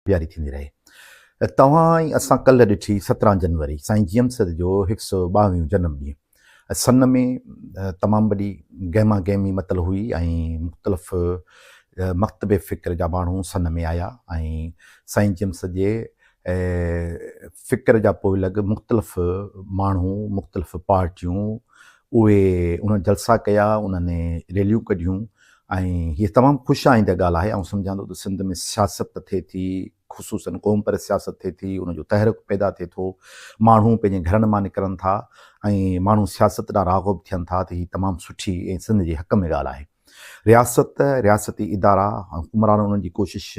جاري ٿيندي رهي. توهان ۽ اسان ڪلهه ڏٺي سترهن جنوري سائين جيئن سر جو هڪ سئو ٻاوهيون جنم ڏينهن سن ۾ تمام وڏي گهما گهمي متل هئي ۽ مختلف مڪتب فڪر جا ماڻهو سن ۾ آيا ۽ سائين جيئن سر جي فڪر جا پوء لڳ مختلف ماڻهو مختلف پارٽيون اهي انهن جلسا ڪيا انهن ريليون ڪڍيون ۽ هيء تمام خوش آئنده ڳالهه آهي. آئون سمجهان ٿو ته سنڌ ۾ سياست ته ٿئي ٿي، خصوصاً قومپرست سياست ٿئي ٿي، ان جو تحرڪ پيدا ٿئي ٿو، ماڻهو پنهنجي گهرن مان نڪرن ٿا ۽ ماڻهو سياست ڏانهن راغب ٿين ٿا ته هيء تمام سٺي ۽ سنڌ جي حق ۾ ڳالهه آهي. رياست، رياستي ادارا ۽ حڪمران انهن جي ڪوشش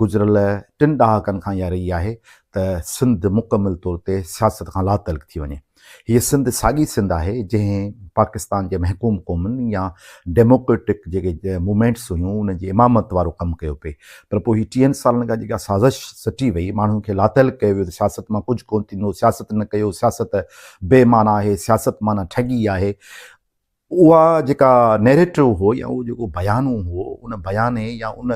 گذريل ٽن ڏهاڪن کان اها رهي آهي ته سنڌ مڪمل طور تي سياست کان لاتعلق ٿي وڃي. هيء سنڌ ساڳي سنڌ آهي جنهن پاڪستان جي محڪوم قومن يا ڊيموڪريٽڪ جيڪي موومينٽس هيون ان جي امامت وارو ڪم ڪيو پئي پر پوء هي ٽيهن سالن کان جيڪا سازش سٽي وئي ماڻهن کي لاتعلق ڪيو ويو ته سياست مان ڪجهه ڪونه ٿيندو سياست نه ڪيو سياست بي معنيٰ آهي سياست معنيٰ ٺڳي آهي اها جيڪا نيريٽو هو يا اهو جيڪو بيانو هو ان بياني يا ان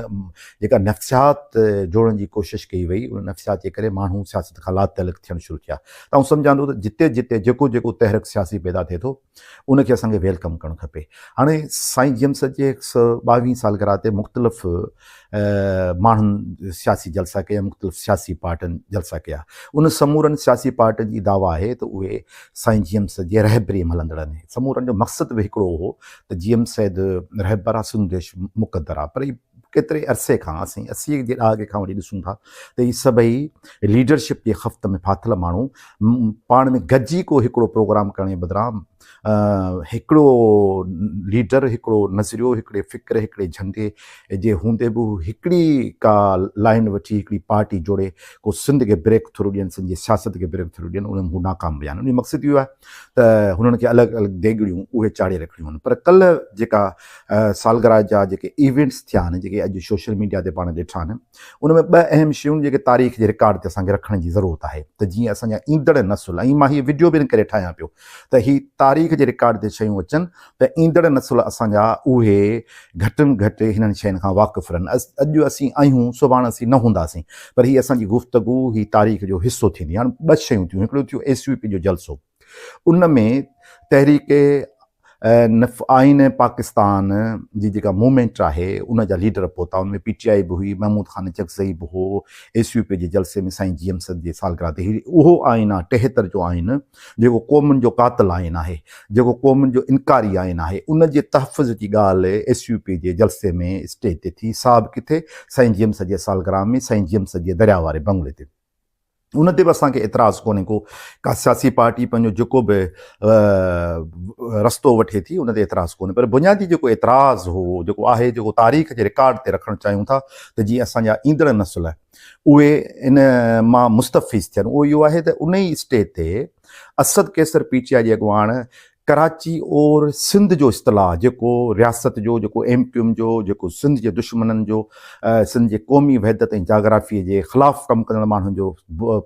جيڪا نفسيات جوڙڻ جي ڪوشش ڪئي وئي ان نفسيات جي ڪري ماڻهو سياست کان لاتعلق ٿيڻ شروع ٿيا ته آئون سمجهان ٿو ته جتي جتي جيڪو جيڪو تحرڪ سياسي پيدا ٿئي ٿو ان کي اسان کي ويلڪم ڪرڻ کپي هاڻي سائين جيمس جي ٻاويهين سالگرهه تي مختلف ماڻهن سياسي جلسا ڪيا، مختلف سياسي پارٽين جلسا ڪيا. انهن سمورن سياسي پارٽين جي دعويٰ آهي ته اهي سائين جي ايم سيد جي رهبريء ۾ هلندڙ آهن. سمورن جو مقصد به هڪڙو هو ته جي ايم سيد رهبر آ، سنڌ ديش مقدر آ. پر ڪيتري عرصي کان، اسين اسيء جي ڏهاڪي کان وٺي ڏسون ٿا ته هي سڀئي ليڊرشپ جي خفت ۾ ڦاٿل ماڻهو پاڻ ۾ گڏجي ڪو هڪڙو پروگرام ڪرڻ جي بدران، هڪڙو ليڊر، هڪڙو نظريو، هڪڙي فڪر، هڪڙي جهنڊي جي هوندي به هو هڪڙي ڪا لائين وٺي هڪڙي پارٽي جوڙي ڪو سنڌ کي بريڪ ٿرو ڏين، سنڌ جي سياست کي بريڪ ٿرو ڏين، ان ۾ هو ناڪام ويا آهن. ان جو مقصد اهو آهي ته هنن کي الڳ الڳ ديڳڙيون اهي چاڙهي رکڻيون آهن. پر ڪلهه جيڪا سالگرهه جا جيڪي ايونٽس ٿيا آهن، جيڪي اڄ سوشل ميڊيا تي پاڻ ڏٺا آهن، ان ۾ ٻه اهم شيون جيڪي تاريخ جي رڪارڊ تي اسان کي رکڻ جي ضرورت آهي ته جيئن اسان جا ايندڙ نسل ۽ مان هيء وڊيو به ان ڪري ٺاهيان پيو ته هي تاريخ جي رڪارڊ تي شيون اچن ته ايندڙ نسل اسان جا اهي گهٽ م گهٽ هنن شين کان واقف رهن اڄ اسين آهيون سڀاڻ اسين نه هونداسين پر هي اسان جي گفتگو هي تاريخ جو حصو ٿيندي هاڻ ٻه شيون ٿيون هڪڙو ٿيو ايس يو پي جو جلسو ان ۾ تحريڪ نفعائين پاڪستان جي جيڪا موومينٽ آهي ان جا ليڊر پهتا ان ۾ پي ٽي آء به هئي محمود خان چڪزئي به هو ايس يو پي جي جلسي ۾ سائين جي ايم سد جي سالگرهه تي اهو آئين آهي ٽيهتر جو آئين جيڪو قومن جو قاتل آئين آهي جيڪو قومن جو انڪاري آئين آهي ان جي تحفظ جي ڳالهه ايس يو پي جي جلسي ۾ اسٽيج تي ٿي صاحب ڪٿي سائين جي ايم سد جي سالگرهه ۾ سائين جي ايم سد جي درياء واري بنگلي تي ان تي به اسان کي اعتراض ڪونهي ڪو ڪا سياسي پارٽي پنهنجو جيڪو به رستو وٺي ٿي ان تي اعتراض ڪونهي پر بنيادي جيڪو اعتراض هو جيڪو آهي جيڪو تاريخ جي رڪارڊ تي رکڻ چاهيون ٿا ته جيئن اسان جا ايندڙ نسل اهي ان مان مستفيض ٿين اهو اهو آهي ته ان ئي اسٽيج تي Asad Qaiser P T I جي اڳواڻ ڪراچي اور سنڌ جو اصطلاح جيڪو رياست جو جيڪو ايم ڪيو ايم جو جيڪو سنڌ جي دشمنن جو سنڌ جي قومي وحدت ۽ جاگرافي جي خلاف ڪم ڪندڙ ماڻهن جو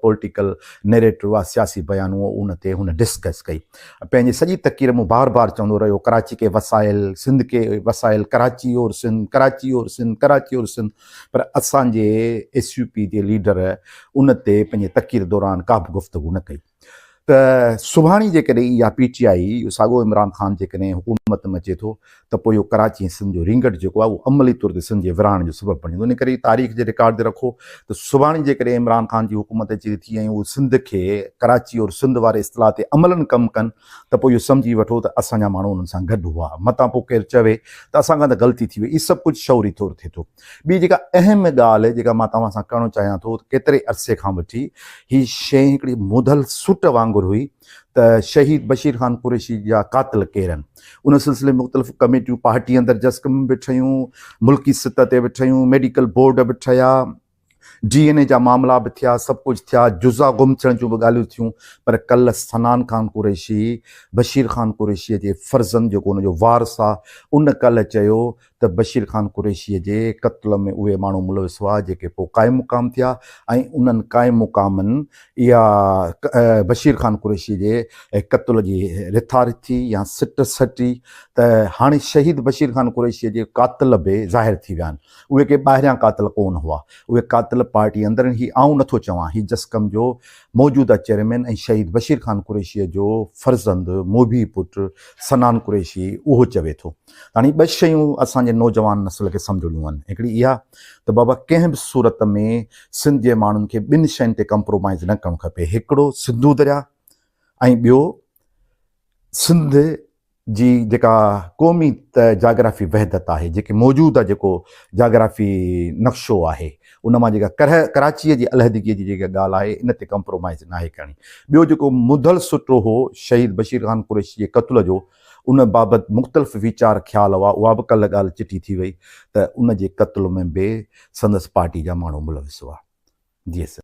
پوليٽيڪل نيريٽو آ سياسي بيان هو ان تي هن ڊسڪس ڪئي پنهنجي سڄي تقرير مون بار بار چوندو رهيو ڪراچي ڪي وسائل سنڌ ڪي وسائل ڪراچي اور سنڌ ڪراچي اور سنڌ ڪراچي اور سنڌ پر اسان جي ايس يو پي جي ليڊر ان تي پنهنجي تقرير دوران ڪا به گفتگو نه ڪئي ته سڀاڻي جيڪڏهن اها پي ٽي آئي ساڳو عمران خان جيڪڏهن حڪومت ۾ اچي ٿو ته پوء اهو ڪراچي ۽ سنڌ جو رينگٽ جيڪو آهي اهو عملي طور تي سنڌ جي ورهاڻ جو سبب بڻي ان ڪري تاريخ جي رڪارڊ تي رکو ته سڀاڻي جيڪڏهن عمران خان جي حڪومت اچي ٿي ۽ اهو سنڌ کي ڪراچي اور سنڌ واري اصطلاح تي عملاً ڪم ڪن ته پوء اهو سمجهي وٺو ته اسان جا ماڻهو انهن سان گڏ هئا. متان پوء ڪير چوي ته اسان کان ته غلطي ٿي وئي. هي سڀ ڪجهه شعوري طور ٿئي ٿو. ٻي جيڪا اهم ڳالهه جيڪا مان توهان سان ڪرڻ چاهيان ٿو ته ڪيتري عرصي کان وٺي هي شيء هڪڙي مڌل سٽ وانگر هئي ته شهيد بشير خان قريشي جا قاتل ڪير آهن. ان سلسلي ۾ مختلف ڪميٽيون پارٽي اندر جسقم به ٺهيون، ملڪي سطح تي به ٺهيون، ميڊيڪل بورڊ به ٺهيا. ڊي اين اي جا معاملا به ٿيا، سڀ ڪجهه ٿيا، جزا گم ٿيڻ جون به ڳالهيون ٿيون پر ڪلهه سنان خان قريشي، بشير خان قريشيء جي فرزند جيڪو ان جو وارث آ، ان ڪلهه چيو ته بشير خان قريشيء جي قتل ۾ اهي ماڻهو ملوث هئا جيڪي پوء قائم مقام ٿيا ۽ انهن قائم مقامن اها بشير خان قريشيء جي قتل جي رٿا رٿي يا سٽ سٽي ته هاڻي شهيد بشير خان قريشيء جي قاتل به ظاهر ٿي ويا آهن. اهي ڪي ٻاهريان قاتل ڪون هئا، اهي قاتل پارٽي اندرين هئي، آئون نه ٿو چوان هي جسقم جو موجوده چيئرمين ۽ شهيد بشير خان قريشيء جو فرزند موڀي پٽ سنان قريشي اهو چوي ٿو. هاڻي ٻه شيون اسان جي نوجوان نسل کي سمجهڻيون آهن، هڪڙي اها ته بابا ڪنهن به صورت ۾ سنڌ جي ماڻهن کي ٻن شين تي ڪمپرومائيز نه ڪرڻ کپي، هڪڙو سنڌو درياهه ۽ ٻيو سنڌ جي جيڪا قومي جاگرافي وحدت آهي، جيڪي موجوده جيڪو جاگرافي نقشو آهي، ان مان جيڪا ڪره ڪراچيء جي علحدگيء جي جيڪا ڳالهه آهي، ان تي ڪمپرومائيز ناهي ڪرڻي. ٻيو جيڪو مدل سٽو هو شهيد بشير خان قريشي جي قتل جو، ان بابت مختلف ويچار خيال هئا، اها به ڪلهه ڳالهه چٽي ٿي وئي ته ان جي قتل ۾ به سندس پارٽي جا ماڻهو ملوث هئا. جي سر.